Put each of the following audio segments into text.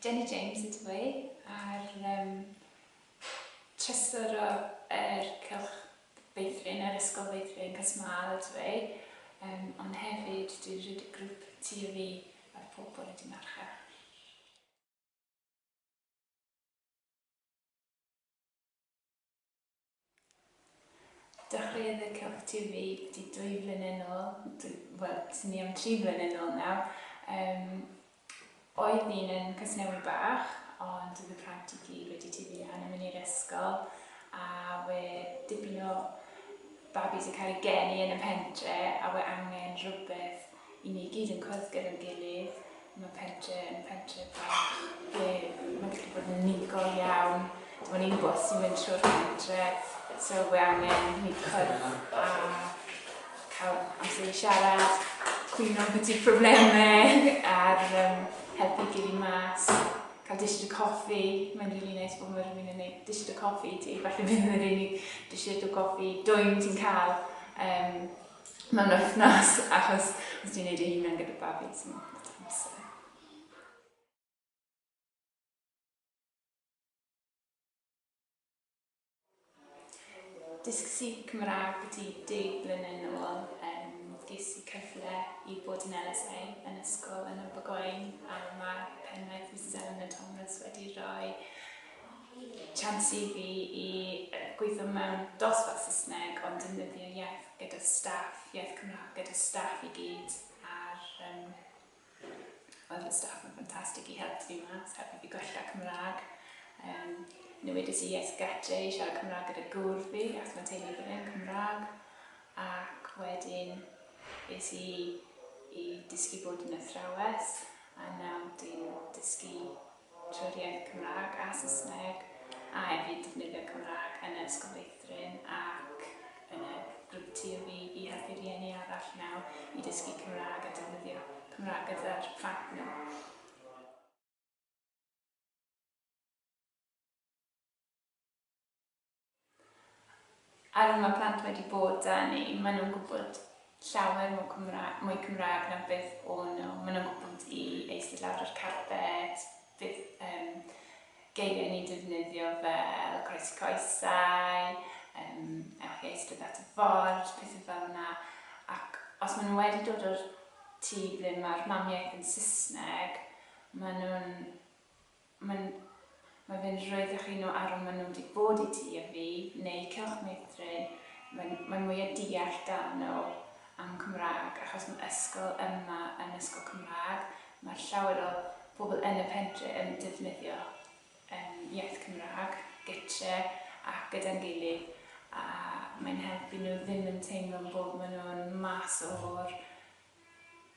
Jenny James y dwy a'r um, trysor o'r cylch feithrin, yr ysgol feithrin Cysmal y dwy, um, ond hefyd dwi'n rhaid y grŵp ti o fi a'r pobl wedi marcha. Dechreuodd y cyfrif wedi dwy flynedd yn ôl, wel, swn i am tri flynedd yn ôl nawr. Yym, oedd un yn Casnewydd Bach, ond oedd y plant i gyd wedi tyfu lan yn mynd i'r ysgol, a we dipyn o babis yn cael eu geni yn y pentre, a we angen rhywbeth I ni gyd yn cwrdd gyda'n gilydd, mae pentre yn pentre bach ble mae'n gallu bod yn unigol iawn. Dim ond un bws sy'n mynd trwy'r pentre, so we angen ni cwrdd a cael amser i siarad, cwyno beth yw'r problemau a'r um, helpu gilydd mas, cael dishid y coffi. Mae'n rili really neis bod mae'r rhywun yn gwneud dishid y coffi ti, falle bydd yn yr unig dishid o goffi dwy'n ti'n cael. Um, mewn wythnos, achos os ti'n neud ei hunan gyda babi, ti'n mewn gyda amser. Dysg si Cymraeg byti deg blynedd yn ôl, um, ges i cyfle i bod yn LSA yn ysgol yn y Bogoen, a mae penwaith Mrs Eleanor Thomas wedi rhoi Chance i fi i gweithio mewn dosbarth Saesneg ond defnyddio iaith gyda staff, iaith Cymraeg gyda staff i gyd a'r yym wel fy staff yn ffantastig i helpu fi mas, helpu fi gwella Cymraeg. Yym newidiais i iaith gatre i siarad Cymraeg gyda gŵr fi achos mae'n teimlo bod e'n Cymraeg ac wedyn es i i dysgu bod yn athrawes a nawr dwi'n dysgu trwy'r iaith Cymraeg a Saesneg a hefyd defnyddio Cymraeg yn y Ysgol Feithrin ac yn y grŵp TUV i helpu rhieni arall nawr i dysgu Cymraeg a defnyddio Cymraeg gyda'r plant nhw. Ar ol ma plant wedi bod da ni, ma nhw'n gwybod llawer mwy Cymraeg, mwy Cymraeg na beth o nhw, ma nhw'n gwybod i eistedd lawr ar carpet, bydd yym geiriau ni'n defnyddio fel croesi coesau, yym ewch i eistedd at y ford, pethau fel yna, ac os ma nhw wedi dod o'r tŷ ble ma'r mamiaith yn Saesneg, ma nhw'n Mae'n Mae fe'n rhoid eich un o arwm maen nhw wedi bod i ti a fi, neu cylch meithrin, mae'n mae'n mwy o deall da nhw am Cymraeg, achos mae ysgol yma yn ysgol Cymraeg, mae llawer o pobl yn y pentre yn defnyddio yym iaith Cymraeg gytre a gyda'n gilydd, a mae'n helpu nhw ddim yn teimlo bod maen nhw'n mas o'r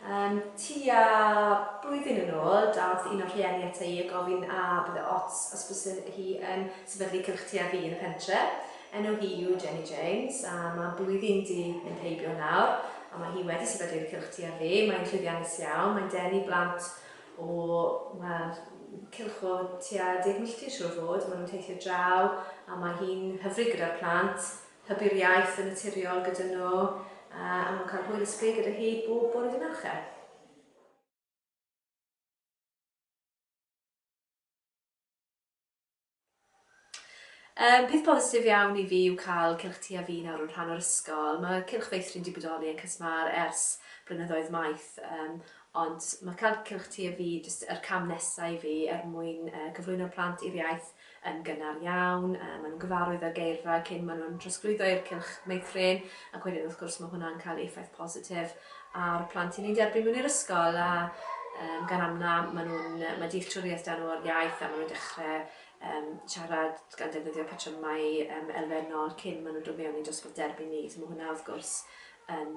Yym, tua blwyddyn yn ôl, daeth un o'r rhieni ata i a gofyn a bydde ots os byse hi yn sefydlu cylch ti a fi yn y pentre. Enw hi yw Jenny James a mae blwyddyn 'di mynd heibio nawr a mae hi wedi sefydlu'r cylch ti a fi. Mae'n llwyddiannus iawn, mae'n denu blant o, wel, cylch o tua deg milltir siŵr o fod, maen nhw'n teithio draw a mae hi'n hyfryd gyda'r plant. hybu'r iaith yn naturiol gyda nhw a nhw'n cael hwyl ysbryd gyda hi bob bore dydd Mercher. Um, peth positif iawn i fi yw cael Cylch Ti a Fi nawr yn rhan o'r ysgol. Mae Cylch Feithrin wedi bodoli yn Cysmar ers blynyddoedd maith, um, Ond mae Cael Cylch Ti a Fi jyst yr cam nesa i fi er mwyn cyflwyno plant i'r iaith yn gynnar iawn. Mae nhw'n gyfarwydd â'r geirfa cyn mae nhw'n trosglwyddo i'r cylch meithrin ac wedyn wrth gwrs mae hwnna'n cael ei effaith positif ar plant i ni'n derbyn mewn i'r ysgol a um, gan amna mae nhw'n mae dealltwriaeth dan o'r iaith a mae nhw'n dechrau um, siarad gan defnyddio patrymau um, elfennol cyn mae nhw'n dod mewn i dosbarth derbyn ni. So mae hwnna wrth gwrs yn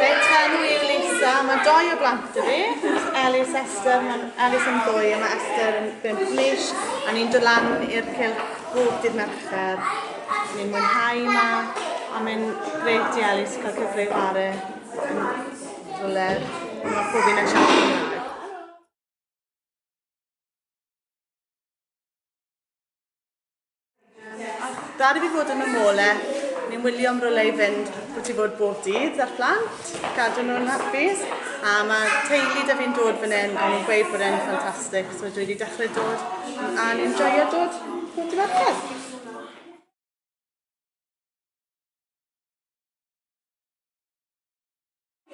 Reit, enw i Lisa, mae doi o blant y fi, Elis Esther, mae Elis yn ddwy a mae Esther yn bimp mis, a ni'n dod lan i'r cilch bob dydd Mercher. Ni'n mwynhau yma, a mae'n greit i Elis cael cyfle i chwarae yn rhywle, mae pob un yn siarad Cymraeg. Dad i fi fod yn y mole, ni'n wylio am rolau i fynd bod i fod bob dydd ar plant, gadw nhw'n hapus, a mae teulu da fi'n dod fan hyn, a nhw'n gweud bod e'n ffantastig, so dwi wedi dechrau dod, a ni'n joio dod bob dydd Mercher.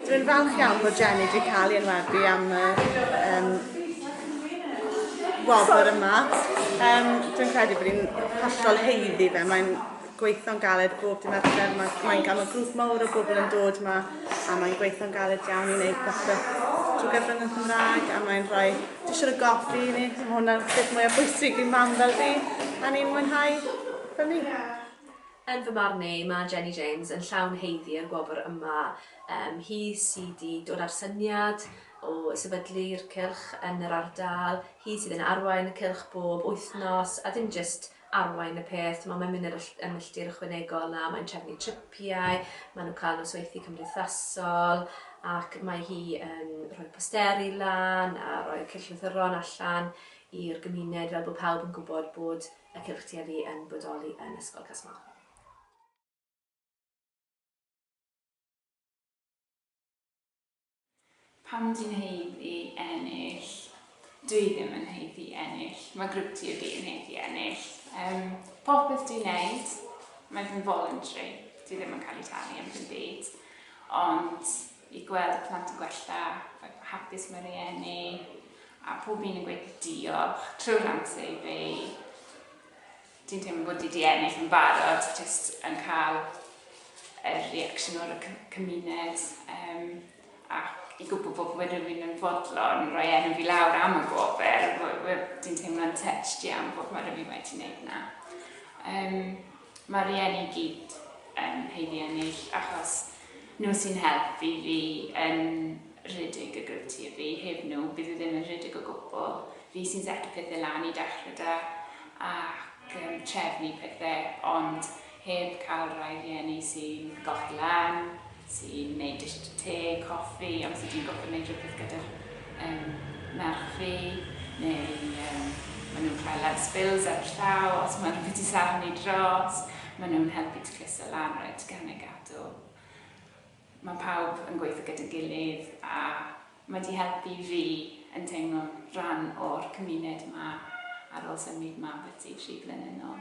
Dwi'n falch iawn bod Jenny wedi cael ei enwebu am y um, wobr yma. Um, dwi'n credu bod ni'n hollol heiddi fe. Mae'n gweithio'n galed bob dim amser. Mae'n mae cael y grŵp mawr o bobl yn dod yma a mae'n gweithio'n galed iawn i wneud popeth trwy gyfrwng yn Cymraeg a mae'n rhoi disio y goffi i ni. Mae hwnna'n beth mwyaf bwysig i mam fel fi a ni'n mwynhau fel ni. Yn fy marn i, mae Jenny James yn llawn haeddu i'r gwobr yma. Yym, hi sy 'di dod â'r syniad o sefydlu'r cylch yn yr ardal, hi sydd yn arwain y cylch bob wythnos, a dim jyst arwain y peth, t'mo', mae'n mynd y milltir ychwanegol 'na, mae'n trefnu tripiau, maen nhw'n cael nosweithie cymdeithasol, ac mae hi yn rhoi posteri lan a rhoi cylchlythyron allan i'r gymuned fel bod pawb yn gwybod bod y Cylch Tueddu yn bodoli yn Ysgol Casmahoch. Pam dwi'n heiddi ennill? Dwi ddim yn heiddi ennill, mae grwp tueddu yn heiddi ennill. Um, popeth dwi'n neud, mae fy voluntary, dwi ddim yn cael ei talu am fy byd. Ond i gweld plant yn gwella, faint mor hapus mae rhieni, a pob un yn gweud diolch trwy'r amser i fi. Dwi'n teimlo bod wedi ennill yn barod, jyst yn cael y reaction o'r cymuned um, ac i gwybod bod fy rhywun yn fodlon roi enw fi lawr am y gofel, dwi'n teimlo'n touched iawn bod mae rhywun wedi gwneud na. Um, mae rhieni gyd yn heiddi ennill achos Nhw sy'n helpu fi yn rhedeg y Grŵp Tyfu, heb nhw bydd e ddim yn rhedeg o gwbl. Fi sy'n seto pethe lan i dechre 'da ac yn trefnu pethe ond heb cael rhai rhieni sy'n golchi lan, sy'n neud dish o te, coffi, amser dwi'n gorfod neud rhywbeth gyda'r yym merch fi neu yym ma' nhw'n cloi lan spills ar y llaw os ma' rhywbeth 'di safon i dros, ma' nhw'n helpu tacluso lan reit gan y gap. Do. Mae pawb yn gweithio gyda'n gilydd a mae wedi helpu fi yn teimlo'n rhan o'r cymuned yma ar ôl symud yma ambythdi tri blynedd nôl.